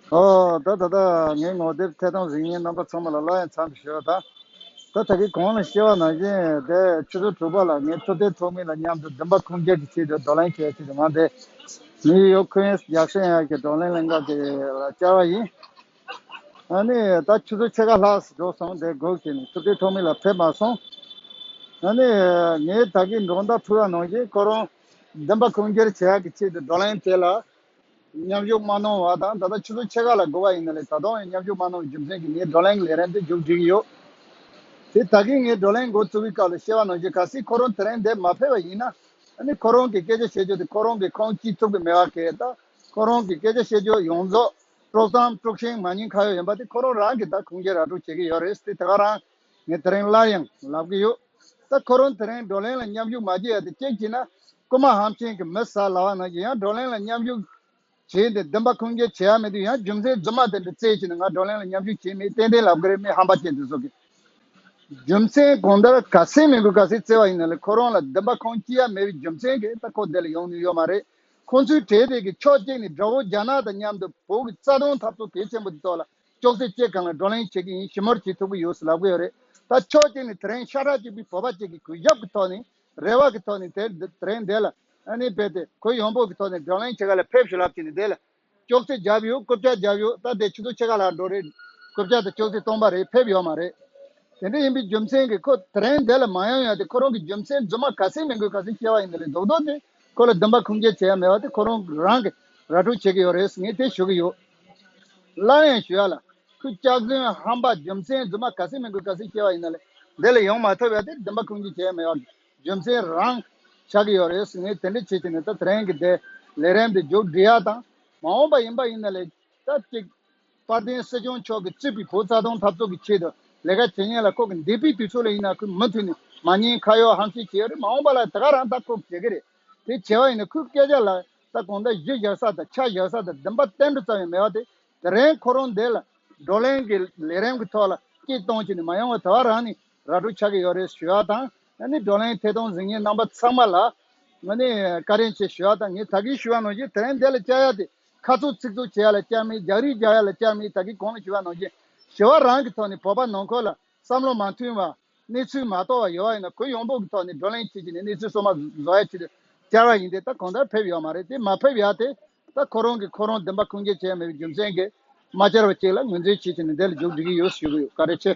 ཨ་ད་ད་ད་ངའི་ངོ་དེབ་ཐད་དང་གཟིགས་ཉན་རྣམ་པ་ཚང་མ་ལ་སླར་ཡང་འཚམས་འདྲི་ཞུ་ད་ད་ད་གིས་གོང་ལ་བཤད་བ་ནང་བཞིན་དེ་ཆུ་ཚོད་དྲུག་པ་ལ་ངས་ཚོད་ལྟའི་ཚོགས་མི་ལ་མཉམ་དུ་བདུན་པ་ཁུངས་སྐྱེལ་གྱི་ཆེད་དུ་བགྲོ་གླེང་བྱས་ཚེ་ང་དེ་ནིའུ་ཡོག་ཁུན་ཡེས་རྒྱག་ཤེས་ཡ་གི་བགྲོ་གླེང་གླེང་སྐབས་དེ་ལ་བཅར་བ་ཡིན་ཨ་ནི་ད་ཆུ་ཚོད་ཕྱེད་ཀ་ལྷག་འགྲོ་སོང་དེ་སྒུག་བྱས་ནས་ཚོད་ལྟའི་ཚོགས་མི་ལ་ཕེབས་མ་སོང་ཨ་ནི་ངས་ད་གིས་འགྲོ་མདའ་འཕུར་བ་ནང་བཞིན་ཁོ་རང་བདེན་པ་ཁུངས་སྐྱེལ་བྱ་ཡག་གི་ཆེད་དུ་བགྲོ་གླེང་བྱས་ལ། མཉམ་ཞུགས་མ་གནང་བ་དང་ད་ལྟ་ཆུ་ཚོད་ཕྱེད་ཀ་ལ་འགོར་བ་ཡིན་ན་ལས་ད་དུང་མཉམ་ཞུགས་མ་གནང་བའི་རྒྱུ་མཚན་གྱིས་ངའི་བགྲོ་གླེང་ལས་རན་ཏེ་མཇུག་བསྒྲིལ་གྱི་ཡོད། དེས་ད་གིན་ངའི་བགྲོ་གླེང་འགོ་བཙུགས་པའི་སྐབས་ལ་ཤེས་པ་ནང་བཞིན་གལ་སྲིད་ཁོ་རང་དེ་རིང་འདས་མ་ཕེབས་པ་ཡིན་ན། ཁོ་རང་གི་སྐད་ཆ་བཤད་རྒྱུ་དེ་ཁོ་རང་གི་ཁང་སྐྱིད་ཚུགས་པའི་མེ་བ་གས་ད་ཁོ་རང་གི་སྐད་ཆ་བཤད་རྒྱུ་ཡོངས་རྫོགས་དཀྲོགས་གཏམ་དཀྲོགས་ཤིང་མ་ཉེས་ཁ་ཡོག་ཡིན་པ་དེ་ཁོ་རང་རང་གིས་ད་ཁུངས་སྐྱེལ་ར་སྤྲོད་བྱེད་ཀྱི་ཡོད་རེད་དེ་ད་ག་རང་ངས་དེ་རིང་སླར་ཡང་ལབ་ཀྱི་ཡོད། ད་ཁོ་རང་དེ་རིང་བགྲོ་གླེང་ལ་མཉམ་ཞུགས་མ་བགྱིད་ཡ་དེ་ཅེས་བགྱིས་ན་རྐུ་མ་ཧམ་ཆེན་གྱི་མི་ཟ་ལ་བ་ནང་བཞིན་ཡང་བགྲོ་གླེང་ལ་མཉམ་ཞུགས་བྱས་ཏེ་བདེན་པ་ཁུངས་སྐྱེལ་བྱེད་ཡ་མི་འདུག་ཡང་རྒྱུ་མཚན་རྫུན་མ་དེ་འདྲ་བཙལ་བྱས་ནས་ང་བགྲོ་གླེང་ལ་མཉམ་ཞུགས་བྱེད་མི་ཏན་ཏན་ལབ་ཀྱི་རེད་མི་ཧམ་པ་ཅན་དེ་ཚོ་གིས་རྒྱུ་མཚན་གང་ལྟར་ག་སེ་མི་དགོས་ག་སེ་བཙལ་བ་ཡིན་ན་ལས་ཁོ་རང་ལ་བདེན་པ་ཁུངས་སྐྱེལ་ཡ་མེད་པའི་རྒྱུ་མཚན་གྱིས་ད་ཁོ་འདི་ལ་ཡོང་ནུས་ཡོད་མ་རེད་ཁོང་ཚོའི་གྲས་དེ་གིས་ཕྱོགས་གཅིག་ནས་དགྲ་བོ་རྒྱ་ནག་དང་མཉམ་དུ་བོད་ཀྱི་རྩ་དོན་འཐབ་རྩོད་གལ་ཆེན་པོ་དེ་ཐོག་ལ། ཅོག་ཙེ་བཅས་གང་ལ་བགྲོ་གླེང་བྱེད་ཀྱི་ཡིན་ཞིབ་མོར་བྱེད་ཐུབ་ཀྱི་ཡོད་ལབ་ཀྱི་ཡོད་རེད་ད་ཕྱོགས་གཅིག་ནས་དེ་རིང་ཤ་ཁྲག་གཅིག་པའི་བོད་པ་གཅིག་གིས་གུས་ཞབས་ཀྱི་ཐོག་ནས་རེ་བ་གི་ཐོག་ནས་དེ་རིང་འདས་ལ་ནི་བས་ཏེ་གུས་ཡོང་འབོད་ཀྱི་ཐོག་ནས་བགྲོ་གླེང་བྱེད་ག་ལ་ཕེབས་ཞུ་ལབ་བྱས་ནས་བསྡད་ལ་ཅོག་ཙེ་བརྒྱབ་ཡོད་རྐུབ་བཀྱག་བརྒྱབ་ཡོད་ད་དེ་ཆུ་ཚོད་ཕྱེད་ཀ་ལྷག་འགྲོ་རེད་རྐུབ་བཀྱག་དང་ཅོག་ཙེ་སྟོང་པ་རེད་ཕེབས་ཡོད་མ་རེད་དེ་འདྲ་ཡིན་པའི་རྒྱུ་མཚན་གྱིས་ཁོ་དེ་རིང་འདས་ལ་མ་ཡོང་ཡོད་དེ་ཁོ་རང་གི་རྒྱུ་མཚན་རྫུན་མ་ག་ཚད་མིན་དགོས་ག་ཚད་བཤད་པ་ཡིན་དེ་ལས་རྡོག་རྡོག་དེ། ཁོ་ལ་འདུན་པ་ཁུངས་སྐྱེལ་བྱེད་ཡ་མེད་པ་དེ་ཁོ་རང་རང་གིས་ར་སྤྲོད་བྱེད་ཀྱི་ཡོད་རེད་ངས་དེ་ཞུ་གི་ཡོད། སླར་ཡང་ཞུ་ཡ་ལ། ཁོས་སྐྱག་རྫུན་ཧམ་པ་རྒྱུ་མཚན་རྫུན་མ་ག་ཚད་མིན་ཁོས་ག་ཚོད་ཤེས་པ་ཡིན་ན་ལས་འདི་ལ་ཡོང་མ་ཐུབ་ཡ་དེ་འདུན་པ་ཁུངས་སྐྱེལ་བྱེད་ཡ་མེད་པ་རྒྱུ་མཚན་རང་ཆགས་ཀྱི་ཡོད་རེད་ངས་དེ་འདྲ་བྱེད་ཀྱི་མེད་ད་ཐེ་རེང་གི་དེ་ལས་རན་པའི་མཇུག་སྒྲིལ་ཡ་དང་མ་འོངས་པ་ཡིན་པ་ཡིན་ན་ལས་ད་ཅིག་དཔལ་ལྡན་སྲིད་སྐྱོང་མཆོག་གིས་སྤྱི་པའི་བུ་རྩ་སྟོང་འཐབ་རྩོད་ཀྱི་ཆེད་དུ་ལས་ཀ་བྱེད་མཁན་ལ་ཁོག་གི་འདས་པའི་དུས་ཚོད་ལ་ཡིན་ན་ཁོས་མུ་མཐུད་ནས་མ་ཉེས་ཁ་གཡོག་ཧམ་བཤད་བྱེད་ཡ་རེད་མ་འོངས་པ་ལ་དེ་ག་རང་ད་ཁོག་བྱེད་ཀྱི་རེད་དེ་བྱས་བ་ཡིན་ན་ཁོའི་སྐད་ཆ་ལ་ད་གོང་ད་གཞི་བཞག་ས་དང་ཆ་བཞག་ས་དང་འདུན་པ་བརྟན་འགྲོ་ཙམ་ཡང་མེད་བ་དེ་དེ་རིང་ཁོ་རང་འདས་ལ་བགྲོ་གླེང་གི་ལས་རིམ་གྱི་ཐོག་ལ་སྐྱིད་གཏོང་བྱས་ནས་མ་ཡོང་བ་དེ་བ་རང་ནས་ར་སྤྲོད་ཆགས་ཀྱི་ཡོད་རེད་ཞུ་བ་དང་ང་ནི་བགྲོ་གླེང་ཐད་གཏོང་ཟིན་མཁན་རྣམ་པ་ཚང་མ་ལ་ང་ནས་བཀའ་དྲིན་ཆེ་ཞུ་བ་དང་ངས་ད་གིན་ཞུ་བ་ནང་བཞིན་དེ་རིང་འདས་ལ་བཅར་ཡ་དེ་ཁ་རྩོད་ཚིག་རྩོད་བྱེད་ཡ་ལ་སྐྱ་མིན་རྒྱག་རིགས་རྒྱག་ཡ་ལ་སྐྱ་མིན་ད་གིན་གོང་ལ་ཞི་བ་གནང་རྗེས་ཞི་བ་རང་གི་ཐོག་ནས་བོད་པ་ནང་ཁོལ་ལ་བསམ་བློ་མ་མཐུན་བ། གནས་ཚུལ་མ་རྟོགས་བ་ཡོད་བ་ཡིན་ན་གུ་ཡོངས་འབོག་གི་ཐོག་ནས་བགྲོ་གླེང་བྱེད་ཀྱི་ནས་གནས་ཚུལ་སོ་མ་བཟོ་ཡ་བྱེད་དུ་བཅར་བ་ཡིན་ཏེ་ད་གོང་ད་ཕེབས་ཡོད་མ་རེད་དེ་མ་ཕེབས་ཡ་དེ་ད་ཁོ་རང་གིས་ཁོ་རང་བདེན་པ་ཁུངས་སྐྱེལ་བྱེད་ཡ་མེད་པའི་རྒྱུ་མཚན་གིས་མ་བཅར་བ་ཅིག་ལ་ངོས་འཛིན་བྱེད་ཀྱི་ནས་དེ་ལ་འཇུག་འགྲིག་གི་ཡོད་ཞུ་གི་ཡོད་ཀ་རེ་ཆེ།